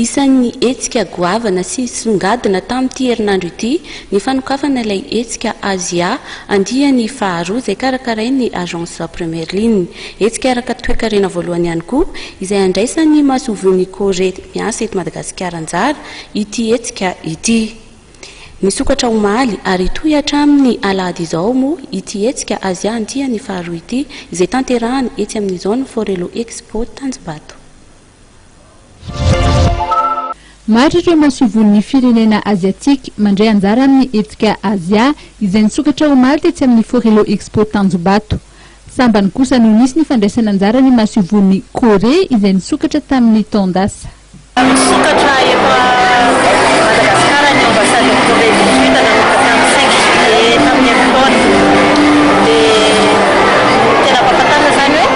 Isan'ny hetsika goavana sy songadina tamin'ity herinandro ity ny fanokafana ilay hetsika Azia andiany faharoa izay karakarain'ny Agence Première Ligne. Hetsika araka toekarena voalohany ihany koa izay handraisan'ny Masoivohon'i Corée miasa eto Madagasikara anjara ity hetsika ity. Nisokatra omaly ary hitohy hatramin'ny alahady izao moa ity hetsika Azia andiany faharoa ity izay tanterahana etsy amin'ny Zone Forello Expo Tanjombato. Maro ireo masoivohon'ny firenena Aziatika mandray anjara amin'ny hetsika Azia izay nisokatra omaly tetsy amin'ny Forello Expo Tanjombato. Sambany kosa no nisy ny fandraisana anjara ny masoivohon'i Korea izay nisokatra tamin'ny taon-dasa. Nisokatra eto Madagasikara ny Ambasaden'i Corée du Sud nanomboka tamin'ny cinq juillet tamin'ny herintaona. Dia tena ampahafantarina izany hoe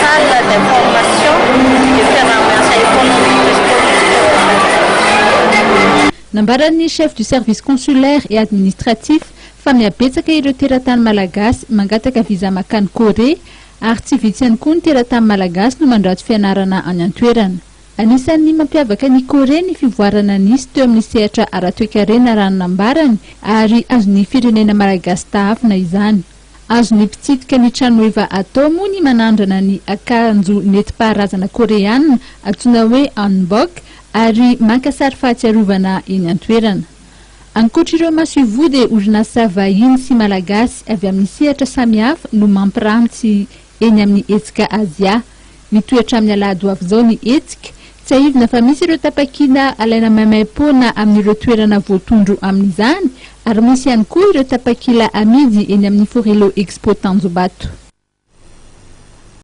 Salle d'information de fiaraha-miasa économique et sportif eo Antananarivo. Nambaran'ny Chef du Service Consulaire et Administratif fa mihabetsaka ireo teratany malagasy mangataka visa makany Corée ary tsy vitsy ihany koa ny teratany malagasy no mandrato fianarana any an-toerana. Anisan'ny mampiavaka an'i Corée ny fivoarana nisy teo amin'ny sehatra ara-toekarena raha ny nambarany ary azon'ny firenena malagasy tahavina izany. Azon'ny mpitsidika ny tranoheva atao moa ny manandrana ny akanjo nentim-paharazana Koreana antsoina hoe hanbok ary maka sary fahatsiarovana eny an-toerana. Ankoatr'ireo masoivoho dia orinasa vahiny sy malagasy avy amin'ny sehatra samihafa no mampiranty eny amin'ny hetsika Azia. Mitohy hatramin'ny alahady ho avy izao ny hetsika. Tsiahivina fa misy ireo tapakila alaina maimaim-poana amin'ireo toerana voatondro amin'izany ary misy ihany koa ireo tapakila amidy eny amin'ny Forello Expo Tanjombato.